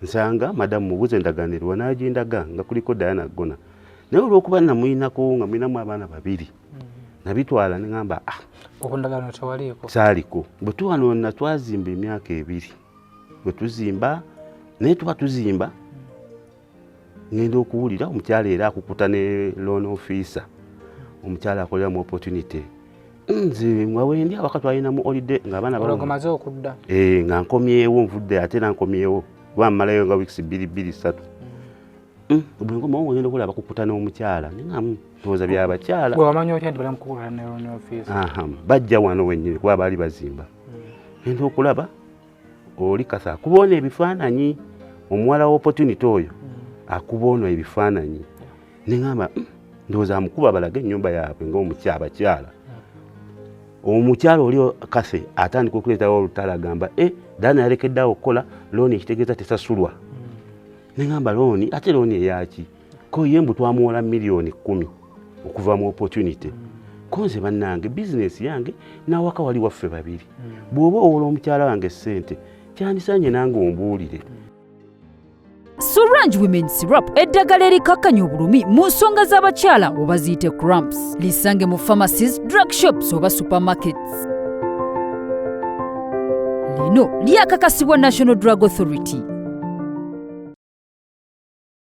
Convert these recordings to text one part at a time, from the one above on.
nsanga madamu mubuze endaganirwa nagindaga nga kuliko dayana gona naye olwokuba namuyinako nga muyinamu abaana babiri mm. nabitwala nengamba ah, saaliko bwetuwanona twazimba emyaka ebiri bwetuzimba naye tuba tuzimba ngenda okuwulira omukyala era akukuta ne loan officer omukyala akolera mu opportunity nze mwawendi awaka twalina mu holiday nga abaana bamaze okudda eh, nga nkomyewo nvudde ate era nkomyewo kuba mmalayo nga weeks bbiri bbiri ssatu mm. mm, bwenkomawo ngenda okulaba kukuta n'omukyala ningamu ndowooza byabakyala bajja wano wenyini kuba baali bazimba mm. ngenda okulaba oli kasa akuba ono ebifaananyi omuwala wa opportunity oyo mm. akuba ono ebifaananyi neŋamba mm, ndowooza amukuba balaga ennyumba yaabwe ngaomukyabakyala mm. omukyala oli kase atandika okuleetawo olutala agamba e eh, dana yalekedde awo okukola looni ekitegeeza tesasulwa neŋamba looni ate looni eyaki ko ye mbu twamuwola miliyoni kumi okuva mu opportunity konze bannange bizinesi yange n'awaka wali waffe babiri bw'oba owola omukyala wange ssente kyandisanye nange ombuulire Sorange Women Syrup eddagala erikakkanya obulumi mu nsonga z'abakyala oba ziyite cramps lisange mu pharmacies drug shops oba supermarkets lino lyakakasibwa national drug authority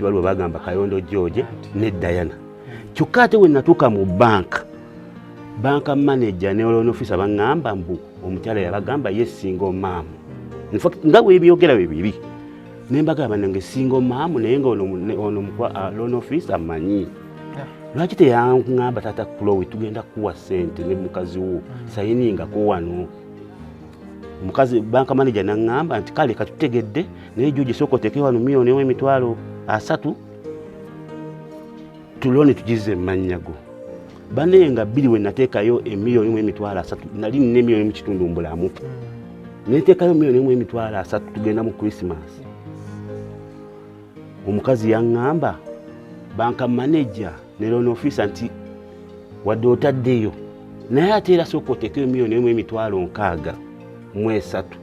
kibalwa bagamba kayondo george ne diana kyokka ate wenatuuka mu banka banka manaja ne loan officer baŋŋamba mbu omukyala yabagamba ye single mom infact nga webyogera bye bibi nembagala banange singo maamu naye nga ono ah, loan office amanyi lwaki teyaŋamba taata kulowe tugenda kuwa sente ne mukazi wo mm. sayiningako wano omukazi banka manaja naŋamba nti kale katutegedde naye juji sooka oteeke wano miyoni omu emitwalo asatu tuloni tugize mu mannya go bane nga bbiri we nateekayo emiliyoni mu emitwalo asatu nali nina emiliyoni mu kitundu mbulamu hmm. neteekayo miliyoni mu emitwalo asatu tugenda mu christmas omukazi yaŋŋamba banka manaja ne loan officer nti wadde otaddeyo naye ate era sooka oteekayo miliyoni emu emitwalo nkaaga mu esatu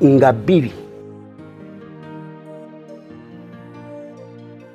nga bbiri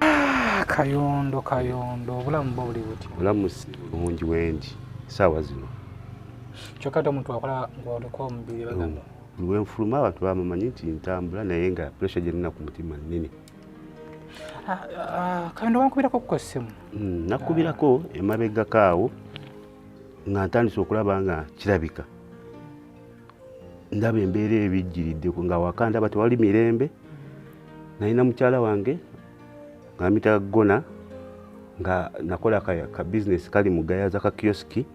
Ah, kayondo kayondo obulamu bwo buli buti obulamu si bulungi wendi saawa zino kyokka ate omuntu akola ngaoliko omubiri bagamba mm. lwenfuluma abantu bamumanyi nti ntambula naye nga puresha gyenina ku mutima nene ah, ah, kayondo wankubirako ku essimu mm, nakubirako emabegako awo nga ntandise okulaba nga kirabika ndaba embeera ebijjiridde nga waka ndaba tewali mirembe nalina mukyala wange ngamita gona nga nakola ka bizinesi kali mu gayaza ka kiosiki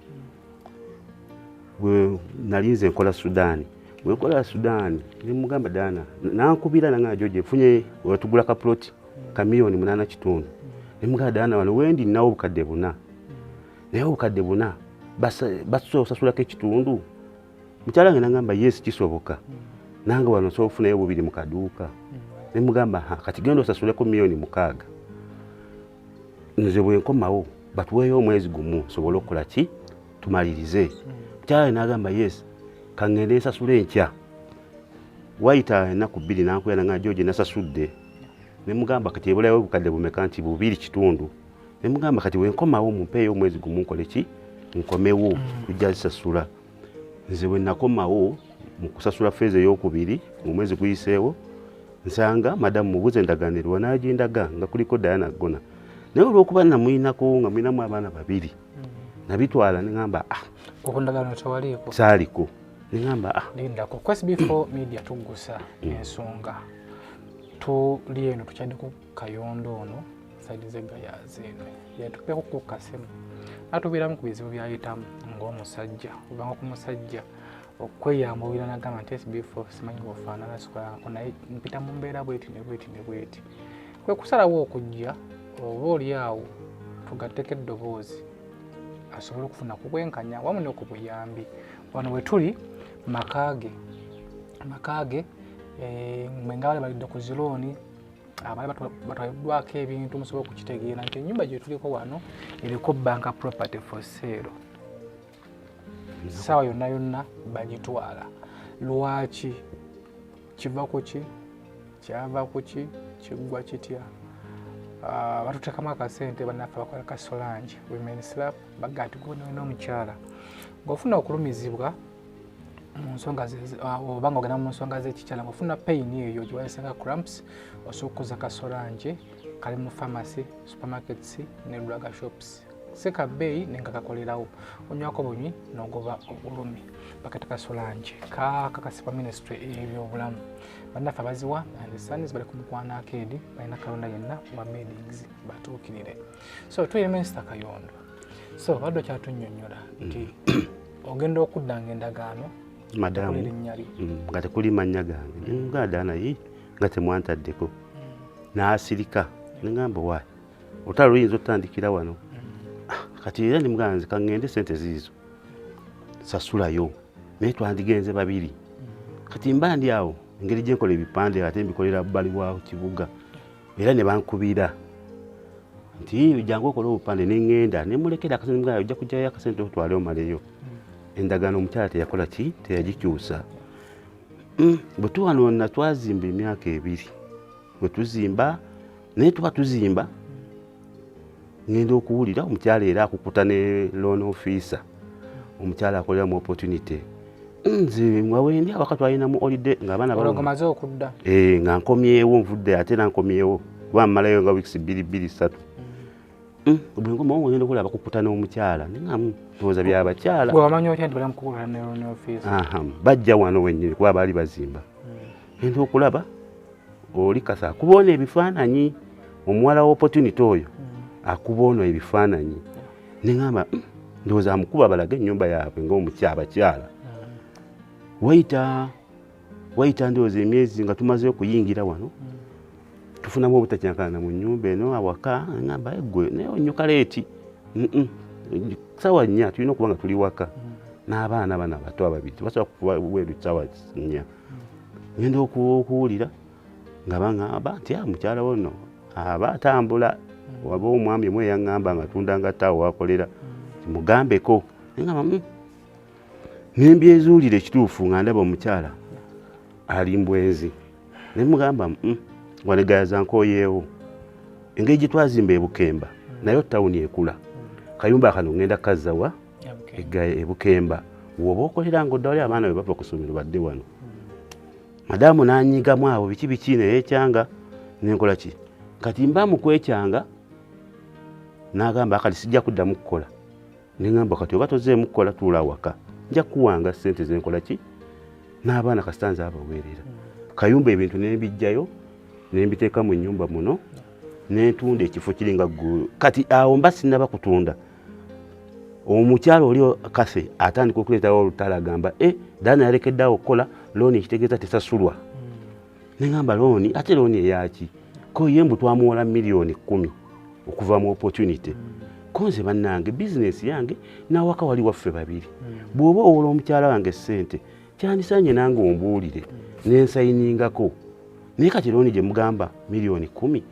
nali nze nkola sudaani wekola sudaani nemugamba daana nankubira nanga joje funye wetugula ka ploti ka miliyoni munaana kitundu nemugamba daana wano wendi nawo obukadde buna naye obukadde buna basobola osasulako ekitundu mukyala nge nagamba yes kisoboka nange wano osobola okufunayo bubiri mu kaduuka nemugamba kati genda osasuleko miliyoni mukaaga nze bwenkomawo batuweeyo omwezi gumu nsobole okukola ki tumalirize mukyala nagamba yes kangende nsasula enkya wayita enaku bbiri nankuya nanga joje nasasudde nemugamba kati ebulayo obukadde bumeka nti bubiri kitundu ne mugamba kati wenkomawo mumpeeyo omwezi gumu nkole ki nkomewo mm. kujja zisasula nze bwe nakomawo mu kusasula feeza eyokubiri mu mwezi guyiseewo nsanga madamu mubuze endaganirwa nagindaga nga kuliko dayana gona naye olwokuba namuyinako nga muyinamu abaana babiri mm. nabitwala neamba ah, saaliko neamba ah. lindako kwesbefore media tugusa mm. ensonga tuli eno tukyadde kayondo ono saidi zegayazi eno yatupeko ku kasimu atubeeramu ku bizibu byayitamu ng'omusajja ovanga ku musajja okweyambulira nagamba nti sbfo simanyi bwofaanana sikolanako naye mpita mu mbeera bweti ne bweti ne bweti kwe kusalawo okujja oba oli awo tugatteko eddoboozi asobole okufuna ku bwenkanya wamu ne ku buyambi wano we tuli makaage makaage eh, mwe nga bali balidde ku zilooni abali batwaliddwako ebintu musobola okukitegeera nti enyumba gyetuliko wano eriko banka property for sale saawa yonna yonna bagitwala lwaki kiva kuki kyava kuki kiggwa kitya ah, batutekamu akasente banaffe bakola kasolange women slap baga nti gona olina omukyala ngaofuna okulumizibwa munsonga ah, obanga ogenda mu nsonga zekikyala ngaofuna pain eyo giwayisenga cramps osobola okukoza kasolange kali mu pharmacy supermarkets ne draga shops seka bbeeyi nenga kakolerawo onywako bunywi nogoba obulumi bakati kasolange kakakasibwa ministry ebyobulamu bannaffe abaziwa and sons bali ku mukwano akeedi balina kalonda yenna wa meetings batuukirire so tuye minisita kayondo so badde okyatunyonyola nti mm. ogenda okuddanga endagaano madamu mm, nga tekuli mannya gange nemuganda naye nga temwantaddeko n'asirika nengamba wa otala luyinza otandikira wano ah, kati era nemuganda nze kaŋŋende sente ziizo sasulayo naye twandigenze babiri kati mba ndi awo engeri gyenkola ebipande ate mbikolera bbali wa kibuga era ne bankubira nti jangu okola obupande ne ŋŋenda ne mulekera akasente mugana ojja kujjayo akasente otwale omaleyo hmm. endagaano omukyala teyakola ki teyagikyusa hmm, bwe tuwanona twazimba emyaka ebiri bwe tuzimba naye tuba tuzimba ngenda okuwulira omukyala era akukuta ne loan officer omukyala akolera mu opportunity nze nga wendi awaka twalinamu olide ngaabaanamaze okudda eh, nga nkomyewo nvudde ate era nkomyewo kuba mmalayo nga weeks bbiri bbiri satu mm. mm, bwenkomawo ngenda okulaba bakukuta n'omukyala ndowoza byabakyala bajja wano wenyini kuba baali bazimba mm. genda okulaba oli kasa akuba ono ebifaananyi omuwala wa opportunity oyo hmm. akuba ono ebifaananyi neŋamba hmm, ndowooza amukuba balaga ennyumba yaabwe ngaomukyabakyala hmm. wayita wayita ndowooza emyezi nga tumaze okuyingira wano tufunamu obutakyakana mu nyumba eno awaka ngamba egwe naye onyuka leeti sawa nnya tulina okuba nga tuli waka n'abaana bana bato ababiri tebasobola kuba weru sawa nnya ngenda okuwulira nga baŋamba nti a ah, mukyala wono aba atambula waba omwami omu eyaŋamba nga tunda nga taawo wakolera mugambeko ngamba hmm. nembyezuulira ekituufu nga ndaba omukyala ali mbwenzi nemugamba hmm, wanegayaza nkoyeewo engeri gyetwazimba ebukemba nayo tawuni ekula kayumba kano ngenda kazawa egaye ebukemba woba okolera nga oddawali abaana be bava ku ssomero badde wano madamu nanyigamu abo biki biki naye ekyanga nenkola ki kati mba mukwekyanga nagamba kati sijja kuddamu kukola nengamba kati oba tozeemu kukola tuula awaka nja kuwanga sente zenkola ki n'abaana kasita nze abaweerera hmm. kayumba ebintu nembijjayo nembiteeka mu nyumba muno nentunda ekifo kiringa kati awo mba sinaba kutunda omukyala oli kase atandika okuleetawo olutala agamba e eh, dana yalekedde awo okukola looni ekitegeeza tesasulwa hmm. neŋamba looni ate looni eyaki ko ye mbu twamuwola miliyoni kumi okuva mu opportunity hmm. konze bannange bizinesi yange n'awaka wali waffe babiri hmm. bw'oba owola omukyala wange ssente kyandisanye nange ombuulire nensayiningako naye kati looni gye mugamba miliyoni kumi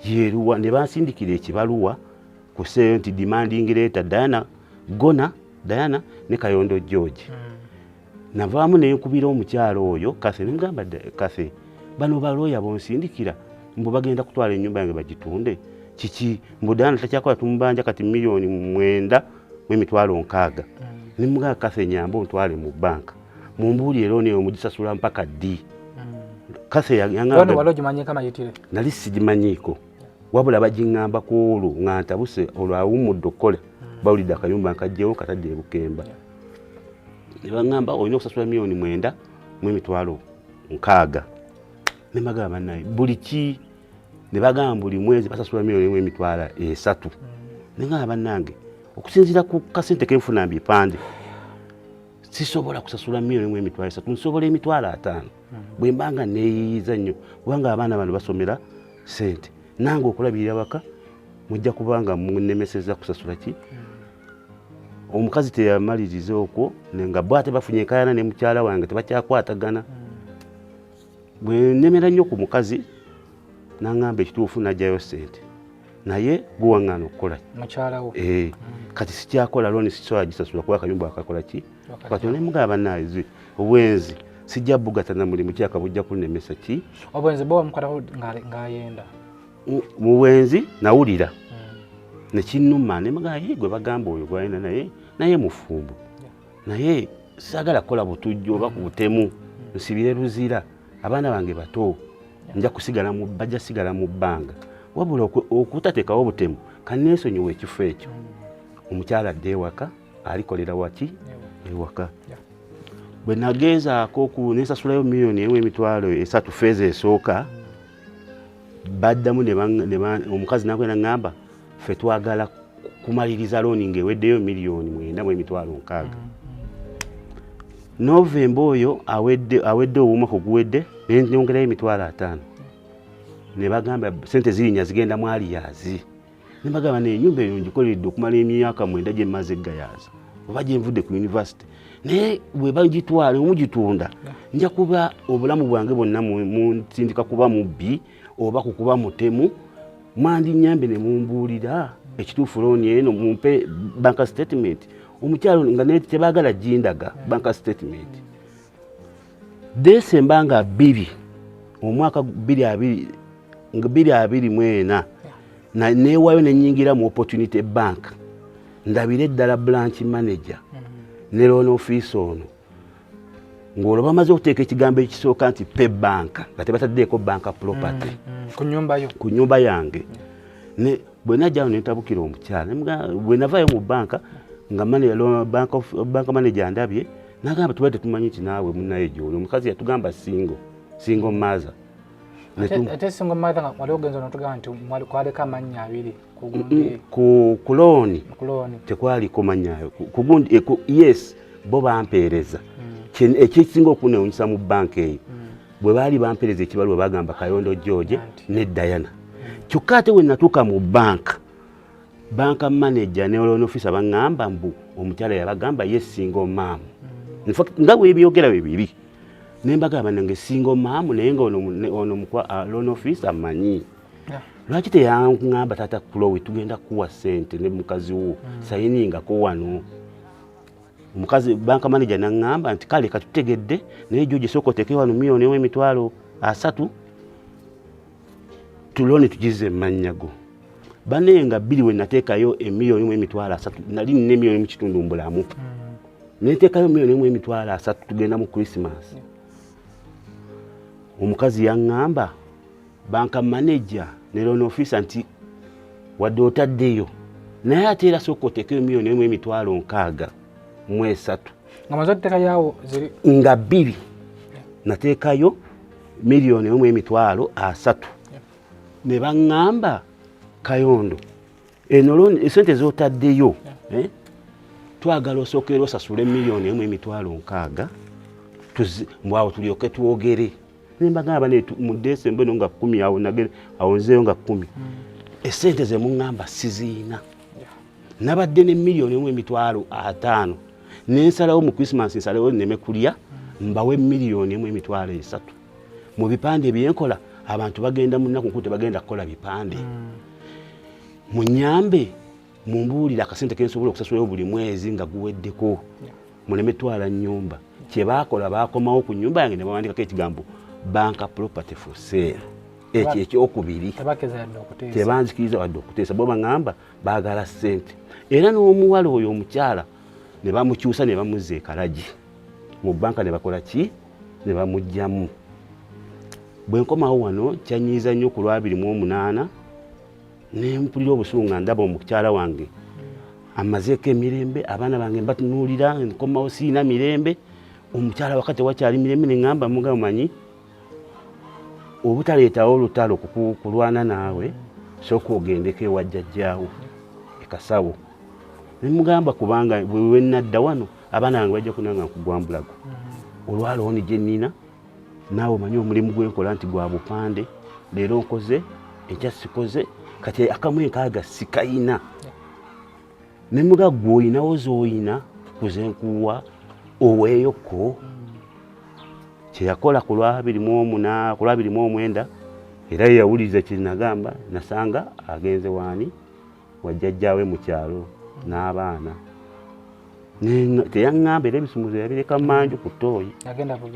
yeruwa ne bansindikira ekibaluwa kuseeyo nti demanding leeta diana gona diana ne kayondo george mm. navaamu nenkubira omukyalo oyo kathe nemugamba kathe bano balooya bonsindikira mbu bagenda kutwala enyumba yange bagitunde kiki mbu diana takyakola tumubanja kati miliyoni mwenda mwemitwalo nkaaga mm. nemugamba kathe nyamba ontwale mu banka mumbuuli era oneyo mugisasula mpaka ddi mm. kathe yangamba nali sigimanyiiko wabula bagingamba ku olwo nga ntabuse olwo awummudde okukola hmm. bawulidde akayumba nkajjewo katadde ebukemba nebagamba olina okusasula miliyoni mwenda mu emitwalo nkaaga nemagaba banaye buli ki nebagamba buli mwezi basasula miliyoni emu emitwalo esatu hmm. nengamba banange okusinziira ku kasente kenfuna mbipande sisobola kusasula miliyoni emu emitwalo esatu nsobola emitwalo ataano bwe mba nga neeyiyiza nnyo kubanga abaana bano basomera sente nange okulabirira waka mujja kuba nga munemeseza kusasula ki omukazi teyamaliriza okwo nga bo ate bafunye enkayana ne mukyala wange tebakyakwatagana bwe nemera nnyo ku mukazi nangamba ekituufu najjayo sente naye guwaŋŋana okukola mukyalawo eh, kati sikyakola loni sisobola gisasula kuba akayumba akakola ki kati onemuga abanaye zi obwenzi sijja bugata na mulimu kyaka bujja kunemesa ki obwenzi bo mukataho ngayenda muwenzi nawulira hmm. nekinuma nemuga ye gwe bagamba oyo gwayina naye naye mufumbo naye sagala kola butujjo oba ku butemu hmm. nsibire luzira abaana bange bato nja kusigala mu bajja sigala mu bbanga wabula okutatekawo obutemu kanesonyiwa ekifo ekyo hmm. omukyala dde ewaka alikolera waki ewaka bwe nagenzaako ku nensasulayo miliyoni emu emitwalo esatu feeza esooka baddamu omukazi nakwena ngamba fe twagala kumaliriza looni ngaeweddeyo miliyoni mwenda mu emitwalo nkaaga novemba oyo awedde owuuma ku guwedde nenyongerayo emitwalo ataano ne bagamba sente zirinya zigenda mwaliyazi ne mbagamba naye ennyumba eyo ngikoleredde okumala emyaka mwenda gye mmaze eggayaaza oba gye nvudde ku yunivasite naye bwe bagitwala omugitunda nja kuba obulamu bwange bwonna munsindika kuba mubbi oba ku kuba mutemu mwandinyambe ne mumbuulira ekituufu looni eno mumpe banka sitatimenti omukyalo nga naye tebaagala gindaga banka sitatimenti desemba nga bbiri omwaka bbiri abiri nga bbiri abiri mu ena neewayo ne nyingira mu opportunity bank ndabire eddala branch manager mm-hmm. ne loan office ono ng'olwo bamaze okuteeka ekigambo ekisooka nti pe banka nga tebataddeeko banka property mm-hmm. ku nyumba yange bwe najjawo ne ntabukira omukyala bwe navaayo mu banka nga banka manager ndabye nagamba tuba tetumanyi nti naawe munaye gyoli omukazi yatugamba singo singo maaza ate singo maaza nga wali ogenza notugamba nti kwaliko amannya abiri kulooni tekwaliko mannya kugundi eh, yes bo bampeereza mm. ekyekisinga okunewunyisa mu banka eyo mm. bwe baali bampeereza ekibaluwa bagamba kayondo george ne diana mm. kyokka ate wenatuuka mu banka banka manager ne loan officer bangamba mbu omukyala yabagamba ye single mom in fact nga webyogera bibiri nembaga banange single mom naye nga ono mukwa ah, loan officer manyi lwaki teyangamba tata kulowe tugenda kuwa sente ne mukazi wo hmm. sayiningako wano omukazi banka manager nangamba nti kale katutegedde naye joje sokoteke wano milioni emitwalo asatu tulone tugize emmannya go bane nga bbiri we nateekayo emiliyoni mu emitwalo asatu nali nina emiliyoni mu kitundu mbulamu hmm. neteekayo miliyoni mu emitwalo asatu tugenda mu krisimas omukazi yaŋŋamba banka manaja ne loan officer nti wadde otaddeyo naye ate era sooka oteekayo miliyoni emu emitwalo nkaaga mu esatu nga bbiri nateekayo miliyoni emu emitwalo asatu ne baŋŋamba kayondo eno esente zotaddeyo eh, twagala osookera osasule miliyoni emu emitwalo nkaaga mbwawo tulyoke twogere nembagamba mu desemba eno nga kumi awo nagere awo nzeeyo nga kumi hmm. esente zemuŋŋamba siziina nabadde ne miliyoni emu emitwalo ataano nensalawo mu christmas nsalewo neme kulya mbawe miliyoni emu emitwalo esatu mu bipande byenkola abantu bagenda munaku nkulu tebagenda kukola bipande mm. munyambe mumbuulire akasente kensobola okusasulayo buli mwezi nga guweddeko muleme twala nyumba kyebakola bakomawo ku nyumba yange nebawandikako ekigambo banka property for sale ekyo ekyokubiri tebanzikiriza wadde okuteesa bo baŋamba baagala ssente era n'omuwala oyo omukyala ne bamukyusa ne bamuzza ekalagi mu bbanka ne bakola ki ne bamugyamu bwe nkomawo wano kyanyiiza nnyo ku lwabiri mu omunaana ne mpulira obusungu nga ndaba omukyala wange amazeeko emirembe abaana bange mbatunuulira nkomawo siina mirembe omukyala wakati wakyali mirembe ne ŋŋamba mugamanyi obutaleetawo olutalo kulwana naawe sooka ogendeko ewa jjajjaawo ekasawo nemugamba kubanga wewenadda wano abaana bange bajja kunanga nkugwambulago mm-hmm. olwalooni gye nnina naawe omanyi omulimu gwenkola nti gwa bupande leero nkoze enkya sikoze kati akamu enkaaga sikayina ne muga gwe olinawo zooyina kuze nkuwa oweeyoko kyeyakola ku lwabiri mu omu na ku lwabiri mu omwenda era yeyawuliriza kyenagamba nasanga agenze waani wajjajjaawe mu kyalo n'abaana teyaŋŋamba era ebisumuzo yabireka manju ku ttooyi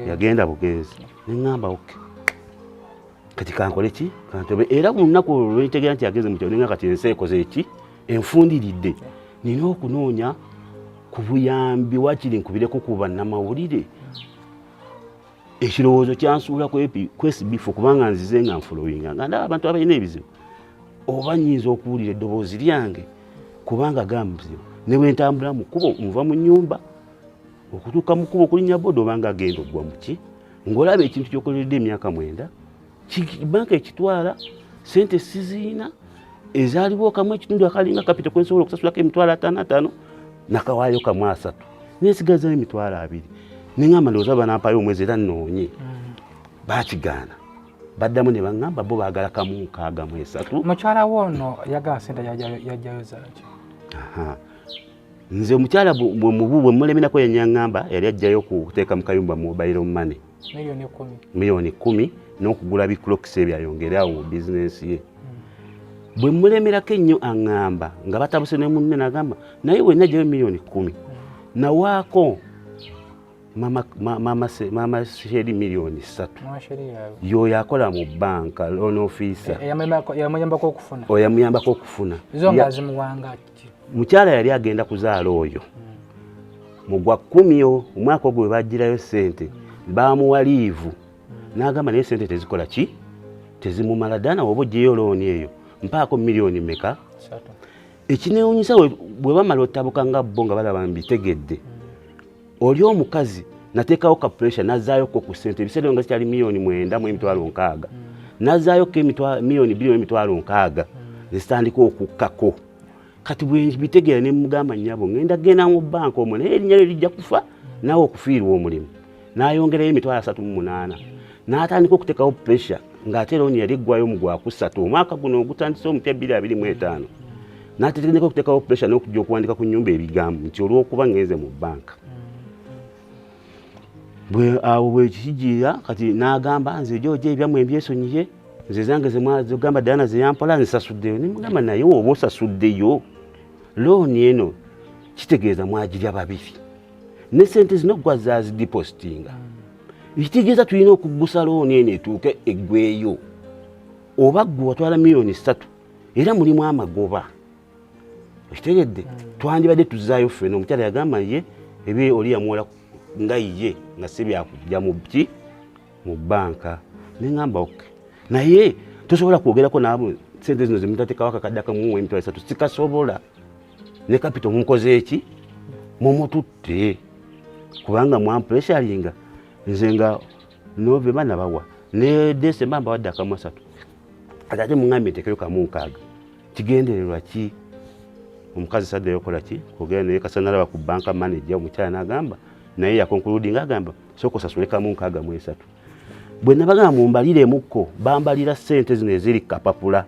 yagenda bugenzi ne ŋŋamba oke kati kankole ki kantobe era ku lunaku olwo lwenitegeera nti agenze mu kyoninga kati ensi ekoze eki enfundiridde nina okunoonya ku buyambi wakiri nkubireko ku bannamawulire ekirowoozo kyansuula kwesibifu kubanga nzize nga nfulowinga nga ndaba abantu abalina ebizibu oba nyinza okuwulira eddoboozi lyange kubanga gambuzibu ne bwe ntambula mu kkubo nva mu nnyumba okutuuka mu kkubo okulinnya boda obanga agenda okugwa muki ng'olaba ekintu kyokoleredde emyaka mwenda banka ekitwala sente siziina ezaaliwo okamu ekitundu akalinga kapita kwensobola okusasulako emitwalo ataano ataano nakawaayo kamu asatu nesigazayo emitwalo abiri neŋamba ndowooza banampayo omwezi era noonye mm. bakigaana baddamu ne baŋŋamba bo baagala kamu nkaaga mu esatu mukyala wo ono yagala sente yajjayo zaaki nze omukyala mubu bwe mulemenako yanyaŋŋamba yali ajjayo kuteeka mu kayumba mobile money miliyoni kumi n'okugula biclokisi ebyo ayongere awo mu bizinensi ye hmm. bwe mulemerako ennyo aŋŋamba nga batabuse ne munne nagamba naye wenna jayo miliyoni kumi hmm. nawaako mama sheri miliyoni ssatu yoyo akola mu banka loan officer eh, yamuyambako okufuna mukyala yali agenda kuzaala oyo mu gwa kkumi omwaka ogwo webajjirayo sente baamuwa liivu n'agamba naye sente tezikola ki tezimumala ddala nawe oba ojjeyo looni eyo mpaako miliyoni meka ekinewunyisa bwe bamala ottabuka nga bo nga balaba mbitegedde oli omukazi nateekawo ka pressure nazaayoko ku ssente ebiseera nga zikyali miliyoni mwenda mu emitwalo nkaaga mm. nazaayoko miliyoni bbiri emitwalo nkaaga mm. nezitandika okukkako kati bwebitegeera ne mugamba nyabo ngenda genda mu banka omu naye erinya lyo lijja kufa naawe okufiirwa omulimu nayongerayo emitwalo asatu mu munaana natandika okuteekawo pressure ng'ate looni yali eggwayo mu gwakusatu omwaka guno ogutandise omupya bbiri abiri mu etaano n'atetegendeka okuteekawo puresha n'okujja okuwandika ku nyumba ebigambo nti olw'okuba ngenze mu bbanka awo bwekikijiira kati n'agamba nze ejojo ebyammwe mbyesonyiye nze zange zegamba dayana zeyampola nzisasuddeyo nemugamba naye oba osasuddeyo looni eno kitegeeza mwagirya babiri ne sente zino gwa zazidipositinga ekitegeeza tulina okuggusa looni eno etuuke eggweyo oba gwe watwala miliyoni ssatu era mulimu amagoba okitegedde hmm. twandibadde tuzaayo ffena omukyala yagamba ye ebye oli yamuwola nga ye nga si byakujja mu ki mu bbanka neŋamba ok naye tosobola kwogerako naabo sente zino zemutatekawo akakadde akamuwa emitwalo esatu sikasobola ne kapito mukoze eki mumututte kubanga mwampuleshalinga nze nga novemba nabawa ne desemba mbawadde akamu asatu kati ate muŋambye ntekero kamu nkaaga kigendererwa ki omukazi sadde yokola ki kugenda naye kasa nalaba ku banka manaja omukyala nagamba naye yakonkuludi nga agamba soka osasule kamu nkaaga mu esatu bwe nabagamba mumbaliremukko bambalira sente zino eziri kapapula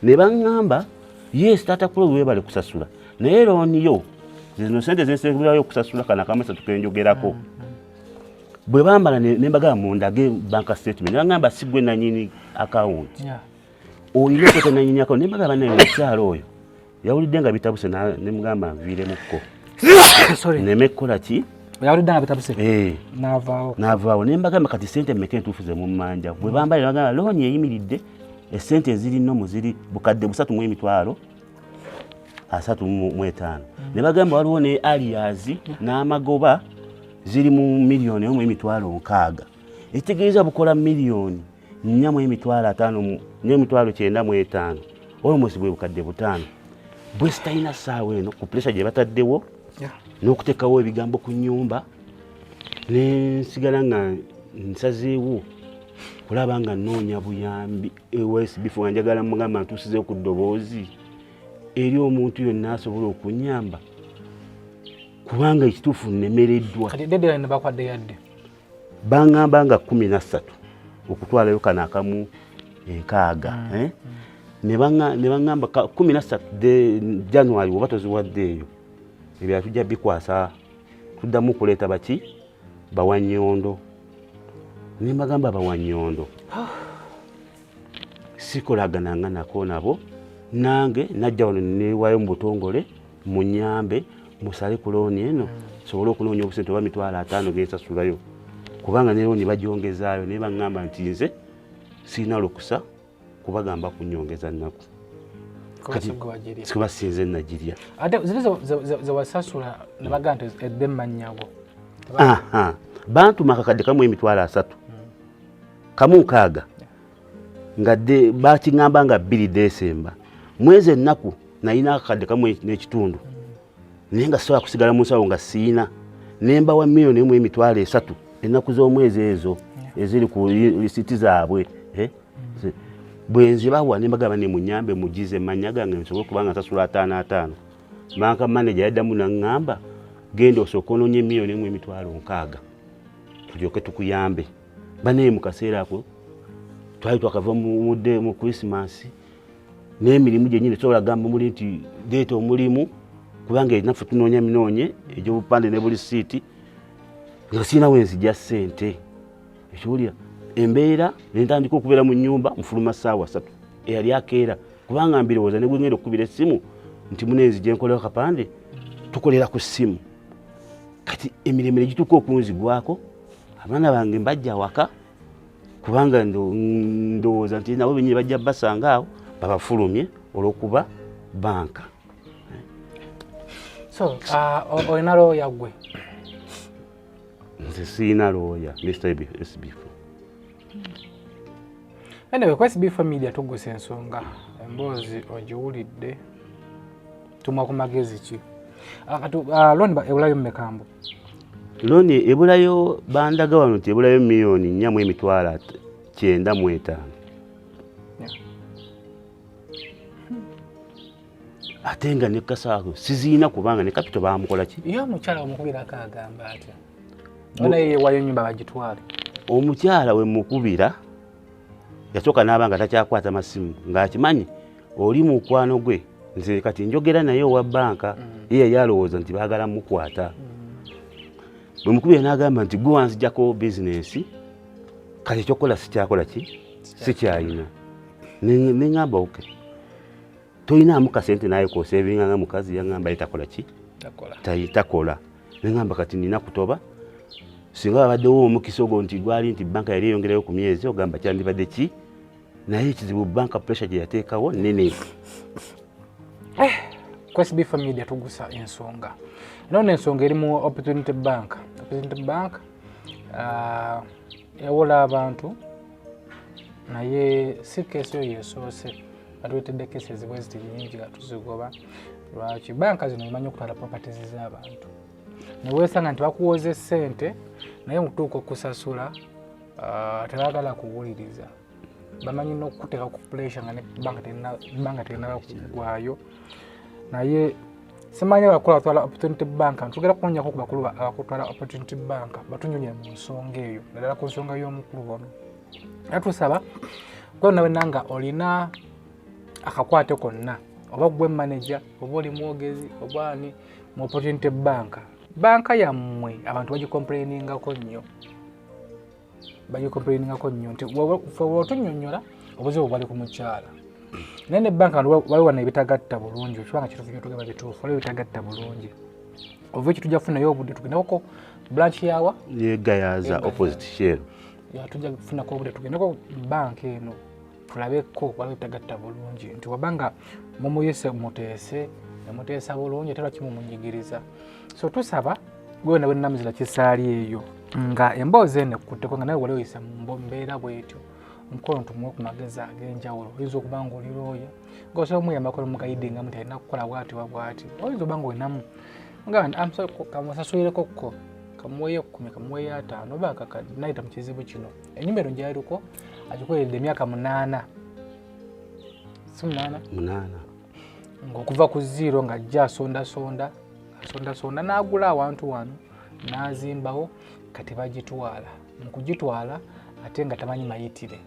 ne baŋŋamba yes taata kulo webale kusasula naye looni yo zino sente zensekubirayo okusasula kana kamasatu kenjogerako mm. bwe bambala ne mbagamba mundage banka statement nangamba sigwe nanyini akawunti olina okweta nanyini akawunti ne mbagamba naye omukyala oyo yawulidde nga bitabuse ne mugamba nviiremukko neme kukola ki yawulidde nga bitabuse eh. navaawo navaawo ne mbagamba kati sente meka entuufu ze mummanja bwe bambala ne bagamba looni eyimiridde esente ezirinomu ziri bukadde busatu mu emitwalo asatu mu etaano ne bagamba waliwo ne aliyazi n'amagoba ziri mu miliyoni emu emitwalo nkaaga ekitegeeza bukola miliyoni nnya mu emitwalo ataano n'emitwalo kyenda mu etaano olwomusi bwe bukadde butaano bwe sitalina ssaawa eno ku pulesa gye bataddewo n'okuteekawo ebigambo ku nnyumba ne nsigala nga nsazeewo kulaba nga nnoonya buyambi ews before njagala mugamba ntusize ku ddoboozi eri omuntu yonna asobola okunyamba kubanga ekituufu nemereddwa bangamba nga kumi na ssatu okutwalayo kano akamu enkaaga mm. eh? ne bangamba kumi na ssatu january oba toziwadde eyo ebyo atujja bikwasa tuddamu okuleeta baki bawanyondo nembagamba bawanyondo ah. sikolagananga nako nabo nange najja wano newayo mu butongole munyambe musale ku looni eno sobole okunoonya obusente oba mitwalo ataano gensasulayo kubanga ne looni bagyongezaayo naye baŋŋamba nti nze sirina lukusa kubagamba kunyongeza nnaku kubasinze nagirya ate ziri zewasasula nebagaa nti edde mumannyago bantuma akakadde kamu emitwalo asatu hmm. kamu nkaaga nga bakiŋamba nga bbiri desemba mwezi ennaku nayina akakadde kamu n'ekitundu naye nga sisobola kusigala mu nsawo nga siina nemba wa miliyoni emu emitwalo esatu ennaku z'omwezi ezo eziri ku lisiti zaabwe eh? bwenzibawa nembagamba ne munyambe mugize manya gange nsobole kubanga nsasula ataano ataano banka maneja yaddamu naŋŋamba genda osooka ononye miliyoni emu emitwalo nkaaga tulyoke tukuyambe banaye mu kaseera ako twali twakava mudde mu krisimasi n'emirimu gyenyini sobola gamba muli nti deeta omulimu kubanga enaffe tunoonya minoonye egy'obupande ne buli siiti nga sirina wenzija ssente ekiwulira embeera nentandika okubeera mu nyumba mufuluma saawa satu eyali akeera kubanga mbirowooza negwengenda okukubira essimu nti munenzi gyenkolera kapande tukolera ku ssimu kati emiremire gituuka okunzigwako abaana bange mbajja awaka kubanga ndowooza nti nabo benyini bajja basanga awo babafulumye olwokuba banka so uh, olina looya gwe nze siina looya mr sbf anyway ku sbf media tugusa ensonga emboozi ogiwulidde tumwa ku magezi ki ah, kati ah, loni ewulayo mumekambwe looni ebulayo bandaga wano nti ebulayo miliyoni nnya mu emitwalo kyenda mu etaano ate nga ne kasaago siziina kubanga ne kapito baamukola ki ye omukyala omukubira akaagamba atya naye yewayo nyumba bagitwale omukyala wemukubira yasooka n'aba nga takyakwata masimu ng'akimanyi oli mukwano gwe nze kati njogera naye owa banka mm. ye yali alowooza nti baagala mukwata mm. bwe mukubi yanaagamba nti gwe wanzijako bizinensi kati ekyokukola sikyakola ki sikyayina neŋamba oke toyinaamu kasente naye kosevinga nga mukazi yangamba ye takola ki takola nengamba kati nina kutoba singa babaddewo omukisa ogwo nti gwali nti banka yali eyongerayo ku myezi ogamba kyandibadde ki naye ekizibu banka pressure gye yateekawo nene eh, kwesb family tugusa ensonga nona ensonga eri mu opportunity bank opportunity bank uh, ewola abantu naye si keesi oyo esoose atuletedde keesi ezibwe ziti nyingi nga tuzigoba lwaki banka zino emanyi okutwala properties z'abantu neweesanga nti bakuwoza essente naye mukutuuka okusasula ah, tebagala kuwuliriza bamanyi nokukuteka ku pulesa nga nebanga tegenala kugwayo naye simanyi abakulu abatwala opportunity bank ntugera kunyako ku bakulu abakutwala opportunity bank batunyonye mu nsonga eyo naddala ku nsonga y'omukulu ono era tusaba gwe nawe nanga olina akakwate konna oba gwe manaja oba oli mwogezi oba ani mu opportunity bank banka yammwe abantu bagikomplainingako nnyo bagikomplainingako nnyo nti watunyonyola obuzibu bwali ku mukyala naye ne banka waliwo na ebitagatta bulungi ekibanga kitufu nyo tugamba bituufu waliwo ebitagatta bulungi ova ekyo tujja kufunayo obudde tugendekoko branch yawa yegayaza opposite shell tujja kufunako obudde tugendeko banka eno tulabeko waliwo tagatta bulungi nti waba nga mumuyise muteese nemuteesa bulungi ate lwaki mumunyigiriza so tusaba gwewena wenamuzira kisaali eyo nga emboozi eno ekkutteko nga nawe wali oyise mumbeera bwetyo omukono tumuwe ku magezi ag'enjawulo oyinza okuba nga oli looya nga osobola omuyambako nomugayidinga muti alina kukola bwati wa bwati oyinza okuba nga olinamu kamusasulireko kko kamuweyo ekkumi kamuweyo ataano oba akakadi nayita mu kizibu kino enyumba eno gyaliko agikoleredde emyaka munaana si munaana munaana ngaokuva ku ziiro nga ajja asondasonda asondasonda n'agula awantu wano n'azimbawo kati bagitwala mu kugitwala ate nga tamanyi mayitire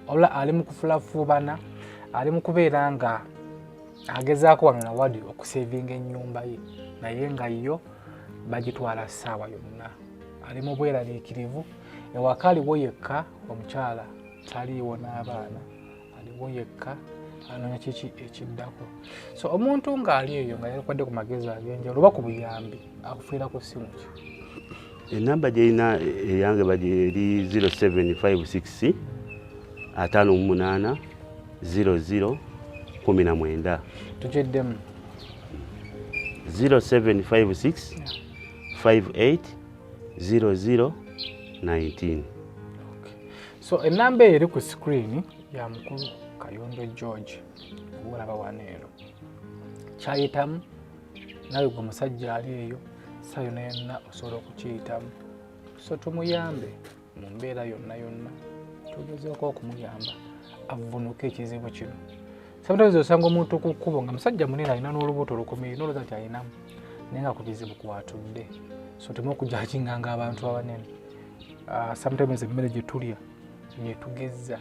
wabula ali mu kufulafuubana ali mu kubeera nga agezaako wano na wadi okusevinga ennyumba ye naye nga yo bagitwala ssaawa yonna ali mu bweraliikirivu ewaka aliwo yekka omukyala taliiwo n'abaana aliwo yekka anoonya kiki ekiddako so omuntu ng'ali eyo nga yalikwadde ku magezi ag'enjawulo oba ku buyambi akufiira ku ssimu ki enamba gyerina eyange bagi eri 0756 ataano mu munaana 00 kumi na mwenda tugiddemu 0756 580019 so enamba eyo eri ku screen ya mukulu kayondo george obaolaba wano ero kyayitamu nawe gwe musajja ali eyo sayo nayonna osobola okukiyitamu so tumuyambe mu mbeera yonna yonna tugezeeko okumuyamba avvunuka ekizibu kino sometimes osanga omuntu ku kkubo nga musajja munene alina n'olubuto lukomeye noloza nti alinamu naye nga ku kizibu kwatudde so tuma okujajinganga abantu abanene ah, sometimes emmere gye tulya yetugezza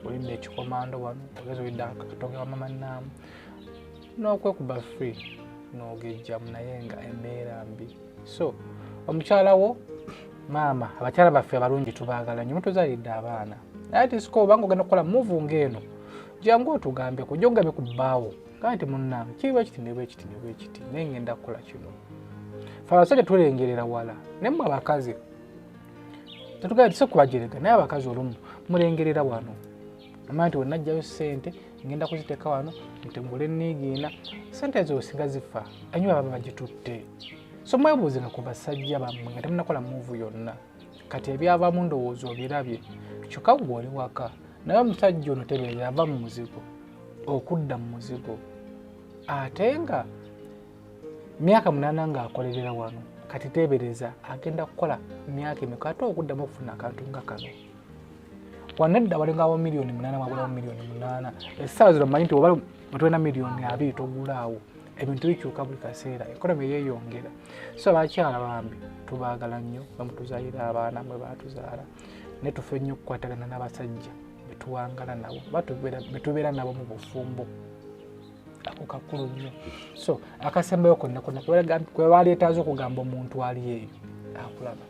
olidde ekikomando wano ogeza olidde akatoke wa mama naamu n'okwekuba free n'ogejjamu naye nga embeera mbi so omukyala wo maama abakyala baffe abalungi tubaagala nyo mutuzalidde abaana naye tisika obanga ogenda kukola muvu ng'eno jangu otugambeko ojja okugambe ku bbaawo gaa nti munnange kiriba kiti ne bwekiti ne bwekiti naye ngenda kukola kino fe abasajja tulengerera wala naye mwe abakazi tetugaitise kubajerega naye abakazi olumu mulengerera wano amanya nti wenajjayo sente ngenda kuziteeka wano ntengule niigiina sente ezo singa zifa anyuba baba bagitutte so mwebuuze nga ku basajja bammwe nga temunakola muuvu yonna kati ebyavamu ndowooza obirabye kyokka gwe oli waka naye omusajja ono tebeera ava mu muzigo okudda mu muzigo ate nga myaka munaana ng'akolerera wano kati teebereza agenda kukola myaka emeka ate okuddamu okufuna akantu nga kano wanedda walingawo miliyoni munaana wagulawo miliyoni munaana essaawa zino manyi nti oba otulina miliyoni abiri togulaawo ebintu bikyuka buli kaseera ekonomi yeeyongera so abakyala bambi tubaagala nnyo bamutuzaalira abaana mwe baatuzaala naye tufe nnyo okukwatagana n'abasajja betuwangala nabo betubeera nabo mu bufumbo ako kakulu nnyo so akasembayo konna konna kwebaleetaaza okugamba omuntu ali eyo akulaba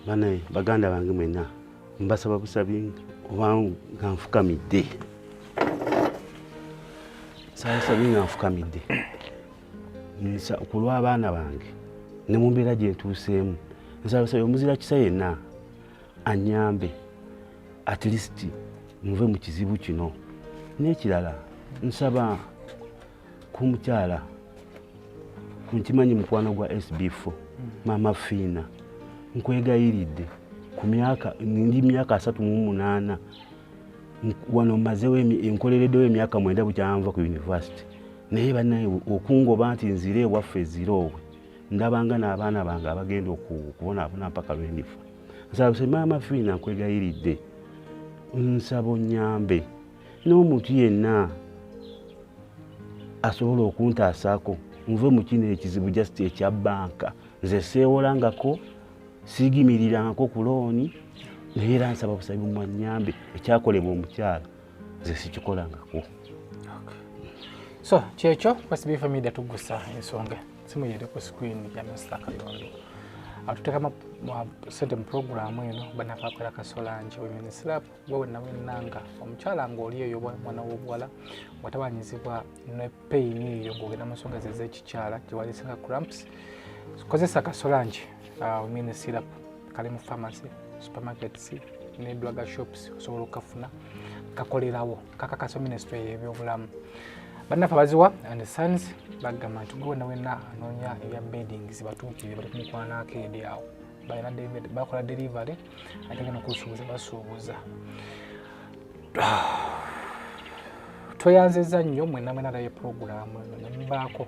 banaye baganda bange mwena mbasaba busabi oba nga nfukamidde sabusabi nga nfukamidde ku lw'abaana bange ne mu mbeera gye ntuuseemu nsabusabi omuzira kisa yenna anyambe at least muve mu kizibu kino n'ekirala nsaba ku mukyala nkimanyi mukwano gwa sb4 maama fiina nkwegayiridde ku myaka ndi myaka asatu mu munaana wano mazewo enkolereddewo emyaka mwenda bukyanva ku univesity naye banaye okungoba nti nzire ewaffe eziroowe ndabanga n'abaana bange abagenda okubonaabona mpaka lwe ndifa nsaba se maama fiina nkwegayiridde nsaba onnyambe n'omuntu yenna asobola okuntaasaako nve mu kino ekizibu just ekya bbanka nze seewolangako siigimirirangako ku looni naye era nsaba busabi mumanyambe ekyakolebwa omukyala nze sikikolangako so kyekyo kwasibifamida tugusa ensonga okay. simu yere ku screen ya Mr. Kayondo atuteka ma sente mu program eno bana kakola kasola nje women slap wewe na wenanga omukyala ngo oliyo yo mwana wobwala watabanyizibwa ne pain yo gogena musonga zeze kikyala kiwali saka cramps kozesa kasola nje uh, women slap kali mu pharmacy supermarkets ne drug shops osobola okukafuna kakolerawo kakakasa minisitule yebyobulamu bannaffe abaziwa and sons bagamba nti gwewena wena anoonya ebya bedding zibatuukire bali kumukwana akeedi awo bakola delivery ate gana okusuubuza basuubuza tweyanziza nnyo mwenamwenalayo programu nembaako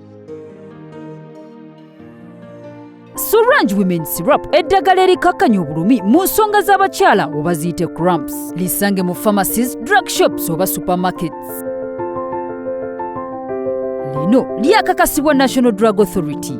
Sorange Women Syrup eddagala erikakkanya obulumi mu nsonga z'abakyala oba ziyite cramps lisange mu pharmacies drug shops oba supermarkets lino lyakakasibwa national drug authority